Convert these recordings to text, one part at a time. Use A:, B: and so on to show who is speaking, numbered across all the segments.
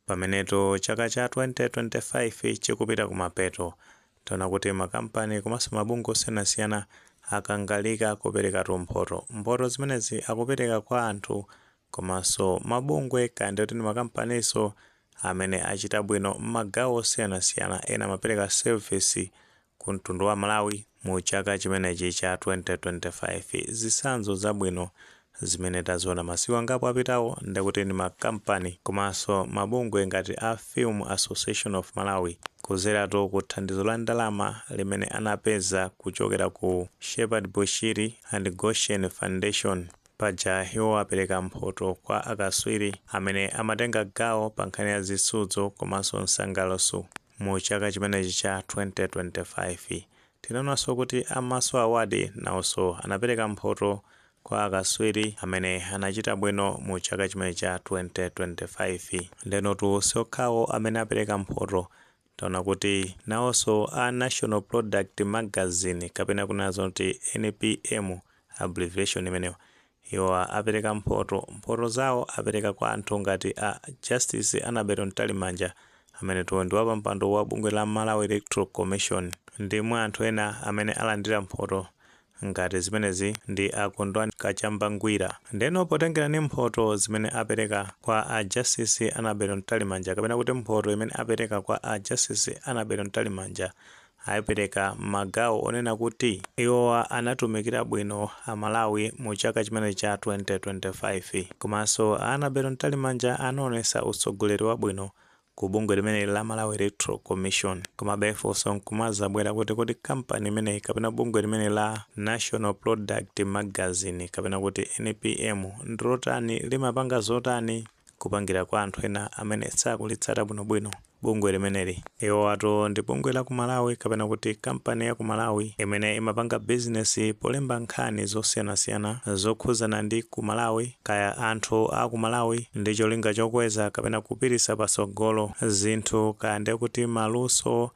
A: Pamenetu chaka cha 2025 chikupita kumapeto, taona kuti makampani komanso mabungwe osiyanasiyana akangalika kuperekatu mphoto. Mphoto zimenezi akupereka kwa anthu komanso mabungwe kaya ndiye kuti ndi makampaninso amene achita bwino m'magawo osiyanasiyana. Ena amapereka service ku mtundu wa Malawi mu chaka chimenechi cha 2025. Zitsanzo zabwino zimene taziona masiku angapo apitawo nde kuti ndi makampani komanso mabungwe ngati a Film Association of Malawi kuzeratu ku thandizo la ndalama limene anapeza kuchokera ku Shepherd Bushiri and Goshen Foundation. Paja iwo apereka mphoto kwa akaswiri amene amatenga gawo pankhani ya zitsudzo komanso nsangalutso. Mu chaka chimenechi cha 2025, tinaonanso kuti a Maso Award nawonso anapereka mphoto kwa akatswiri amene anachita bwino mu chaka chimenechi cha 2025. Ndenotu siokhawo amene apereka mphoto, taona kuti nawonso a National Product Magazine kapena kunena zoti NPM, abbreviation imeneyo, Iwowa apereka mphoto. Mphoto zawo apereka kwa anthu ngati a Justice Annabel Mtalimanja, amenetu ndi wapampando wa bungwe la Malawi Electoral Commission. Ndi mwa anthu ena amene alandira mphoto ngati zimenezi ndi a Kondwani Kachamba Ngwira. Ndeno potengera ndi mphoto zimene apereka kwa a Justice Annabel Mtalimanja kapena kuti mphoto imene apereka kwa a Justice Annabel Mtalimanja, ayipereka m'magawo onena kuti iwowa anatumikira bwino a Malawi mu chaka chimenechi cha 2025. Komanso a Annabel Mtalimanja anaonesa utsogoleri wabwino ku bungwe limeneli la Malawi Electoral Commission. Komabe funso nkumazabwera kuti kodi kampani imeneyi kapena bungwe limeneli la National Product Magazine kapena kuti NPM ndilotani, limapanga zotani? kupangira kwa anthu ena amene sakulitsata bwinobwino bungwe limeneli. Iwowatu ndi bungwe la ku Malawi kapena kuti kampani ya ku Malawi imene imapanga bizinesi polemba nkhani zosiyanasiyana zokhuzana ndi ku Malawi kaya anthu a ku Malawi ndi cholinga chokweza kapena kupitisa patsogolo zinthu kaya nde kuti maluso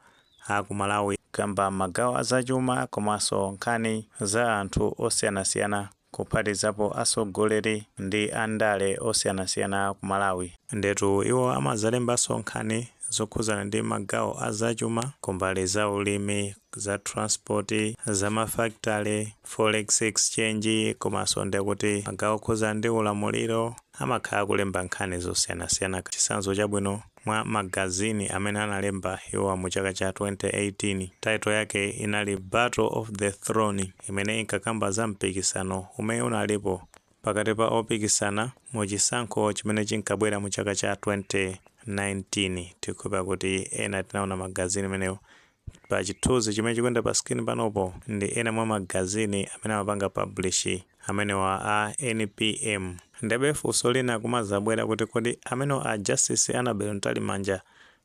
A: a ku Malawi kaya m'magawo a zachuma komanso nkhani za anthu osiyanasiyana. kuphatizapo asogoleri ndi andale osiyanasiyana ku Malawi. Ndetu iwo amadzalembanso nkhani zokhuzana ndi magawo a zachuma kumbali za ulimi, za transport, za mafakitale, forex exchange komanso nde kuti magawo okhuzana ndi ulamuliro amakhala akulemba nkhani zosiyanasiyana chitsanzo chabwino Mwa magazini amene analemba iwowa mu chaka cha 2018, title yake inali Battle of the Throne imene inkakamba za mpikisano umene unalipo pakati pa opikisana mu chisankho chimene chinkabwera mu chaka cha 2019. Tikukhulupirira kuti ena tinaona magazini imeneyo Pa chithunzi chimene chikuyenda pa screen panopo ndi ena mwa magazini amene amapanga publish amenewa a NPM. Ndiyebe funso lina likumazabwera kuti kodi amenewa a Justice Annabel Mtalimanja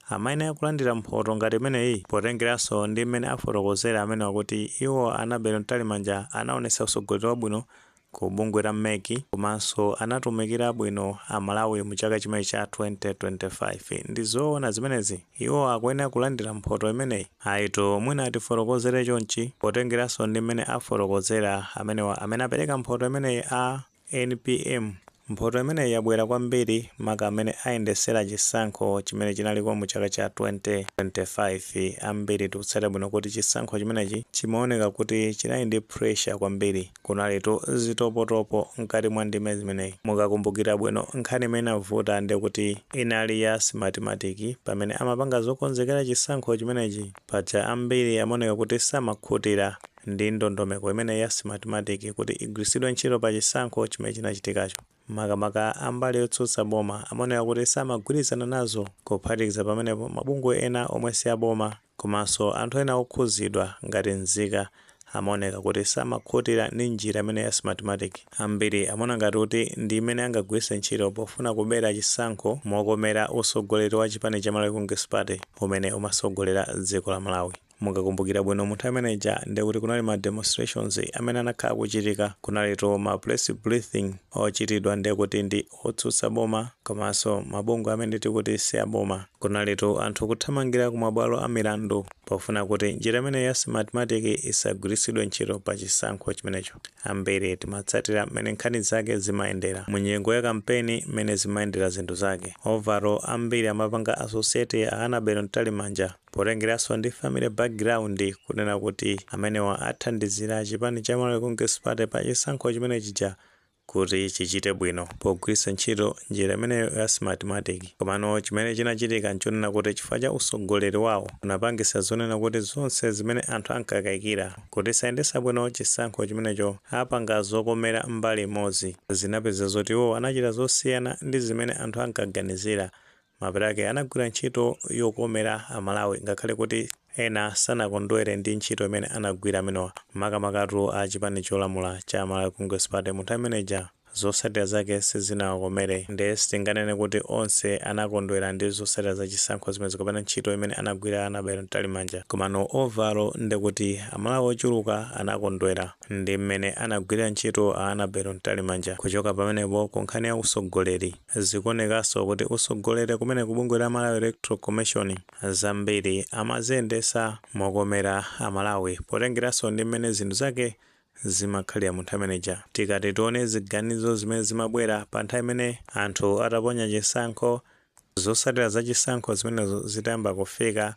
A: amayenera kulandira mphoto ngati imeneyi potengeranso ndi mmene afotokozera amenewa kuti iwo a Annabel Mtalimanja anaonetsa usogoleri wabwino ku bungwe la mec komanso anatumikira bwino aMalawi mu chaka chimenechi cha 2025 ndi zoona zimenezi iwo akuyenera kulandira mphoto imeneyi ayitu mwina atifotokozere chonchi potengeranso ndi mmene afotokozera amenewa amene apereka mphoto imeneyi a npm Mphoto imeneyi yabwera kwambiri maka mmene ayendesera chisankho chimene chinaliko mu chaka cha 2025. Ambiri tikutsata bwino kuti chisankho chimenechi chimaoneka kuti chinali ndi pressure kwambiri. Kunalitu zitopotopo mkati mwa ndime zimeneyi. Mukakumbukira bwino nkhani imene inavuta ndekuti inali ya Smartmatic pamene amapanga zokonzekera chisankho chimenechi. Paja ambiri amaoneka kuti samakhutira. ndi ndondomeko imene ya Smartmatic kuti igwiritsidwe ntchito pa chisankho chimene chinachitikacho. Makamaka a mbali yotsutsa boma amaoneka kuti samagwirizana nazo. Kuphatikiza pamenepo, mabungwe ena omwe si a boma komanso anthu ena okhudzidwa ngati nzika amaoneka kuti samakhutira ndi njira imeneyi ya Smartmatic. Ambiri amaona ngati kuti ndi imene angagwiritse ntchito pofuna kubera chisankho mokomera utsogoleri wa chipani cha Malawi Congress Party umene umatsogolera dziko la Malawi. Mukakumbukira bwino mu nthawi imene ija ndiye kuti kunali ma demonstrations amene anakhala akuchitika, kunalitu ma press briefing ochitidwa ndiye kuti ndi otsutsa boma komanso mabungwe amene tikuti si a boma. Kunalitu anthu kuthamangira ku mabwalo a milandu pofuna kuti njira imeneyi ya Smartmatic isagwiritsidwe ntchito pa chisankho chimenecho. Ambiri timatsatira mmene nkhani zake zimayendera, mu nyengo ya kampeni mmene zimayendera zinthu zake. Overall ambiri amapanga associate a Annabel Mtalimanja. Potengeranso ndi family background kunena kuti amenewa athandizira chipani cha Malawi Congress Party pa chisankho chimene chija kuti chichite bwino pogwiritsa ntchito njira imeneyo ya Smartmatic. Komano chimene chinachitika nchonena kuti chifukwa cha usogoleri wawo unapangisa zonena kuti zonse zimene anthu ankakayikira kuti sayendesa bwino chisankho chimenecho apanga zokomera mbali imodzi. Zinapeza zoti iwo anachita zosiyana ndi zimene anthu ankaganizira Mapeto ake anagwira ntchito yokomera a Malawi ngakhale kuti ena sanakondwere ndi ntchito imene anagwira amenewa makamakatu a chipani cholamula cha Malawi Congress Party. munthawi imene ija zotsatira zake sizinawakomere nde sitinganene kuti onse anakondwera ndi zotsatira za chisankho zimenezo kapena ntchito imene anagwira Annabel Mtalimanja komano overall ndekuti a Malawi ochuluka anakondwera ndi mmene anagwirira ntchito a Annabel Mtalimanja. Kuchoka pamenepo ku nkhani ya utsogoleri. Zikuonekanso kuti utsogoleri kumene ku bungwe la Malawi Electoral Commission zambiri amaziyendesa mokomera a Malawi potengeranso ndi mmene zinthu zake zimakhalira mu nthawi imeneija. Tikati tione ziganizo zimene zimabwera pa nthawi imene anthu ataponya chisankho, zotsatira za chisankho zimenezo zitayamba kufika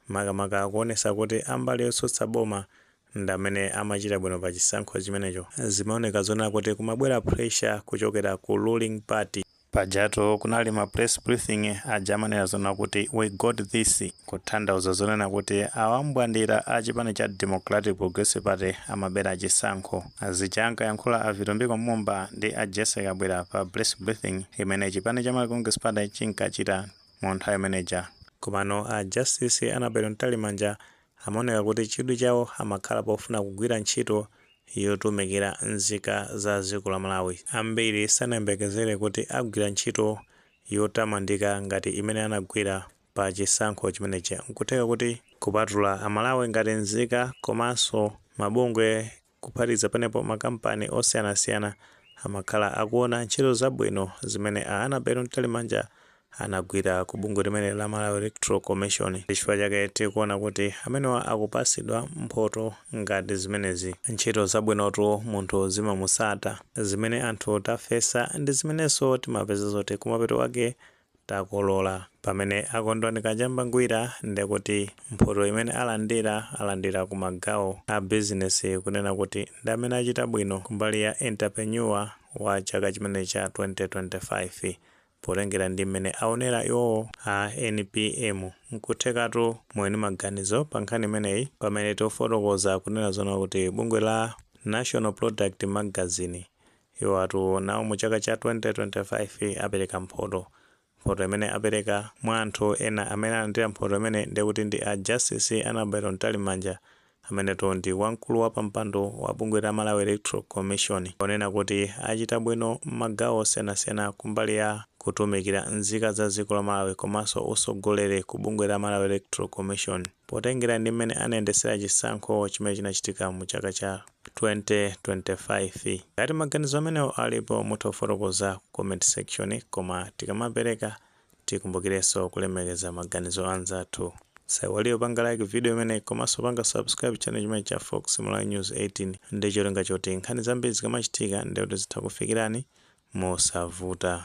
A: makamaka kuonesa kuti ambali yotsutsa boma ndamene amachita bwino pa chisankho chimenecho zimaoneka zonena kuti kumabwera pressure kuchokera ku ruling party. Pajatu kunali ma press briefing aja amanena zonena kuti we got this kutanthauza zonena kuti awambwandira a chipani cha Democratic Progressive Party amabera chisankho. Zija ankayankhula a Vitumbiko Mumba ndi a Jessie Kabwila pa press briefing imene chipani cha Malawi Congress Party chinkachita mu nthawi imene ija. Komano a Justice Annabel Mtalimanja amaoneka kuti chidwi chawo amakhala pofuna kugwira ntchito yotumikira nzika za dziko la Malawi. Ambiri sanayembekezere kuti agwira ntchito yotamandika ngati imene anagwira pa chisankho chimenechi. Nkutheka kuti kupatula a Malawi ngati nzika komanso mabungwe Kuphatikiza pamenepo, makampani osiyanasiyana amakhala akuona ntchito zabwino zimene a Annabel Mtalimanja anagwira ku bungwe limeneli la Malawi Electoral Commission. Chifukwa chake tikuona kuti amenewa akupatsidwa mphoto ngati zimenezi. Ntchito zabwinotu munthu zimamutsata. Zimene anthu tafesa ndi zimenenso timapeza zoti kumapeto kwake takolola. Pamene a Kondwani Kachamba Ngwira nde kuti mphoto imene alandira, alandira ku ma gawo a bizinesi kunena kuti ndi amene achita bwino kumbali ya Entrepreneur wa chaka chimene cha 2025 potengera ndi mmene awonera iwowo a NPM. Nkuthekatu muli ndi maganizo pa nkhani imeneyi pamene tikufotokoza kunena zoona kuti bungwe la National Product Magazine, Iwo atu nawo mu chaka cha 2025 apereka mphoto. Mphoto imene apereka, mwa anthu ena amene alandira mphoto imeneyi ndiye kuti ndi a Justice Annabel Mtalimanja amenetu ndi wamkulu wa pampando wa bungwe la Malawi Electoral Commission ponena kuti achita bwino m'magawo osiyanasiyana kumbali ya kutumikira nzika za dziko la Malawi komanso utsogoleri ku bungwe la Malawi Electoral Commission. Potengera ndi mmene anayendesera chisankho chimene chinachitika mu chaka cha 2025. Ngati maganizo amenewo alipo mutha kufotokoza ku comment section koma tikamapereka tikumbukirenso kulemekeza maganizo anzathu. Usaiwalire kupanga like video imeneyi komanso kupanga subscribe channel chimenechi cha Fox Malawi News 18 ndi cholinga choti nkhani zambiri zikamachitika ndekuti zitha kukufikirani mosavuta.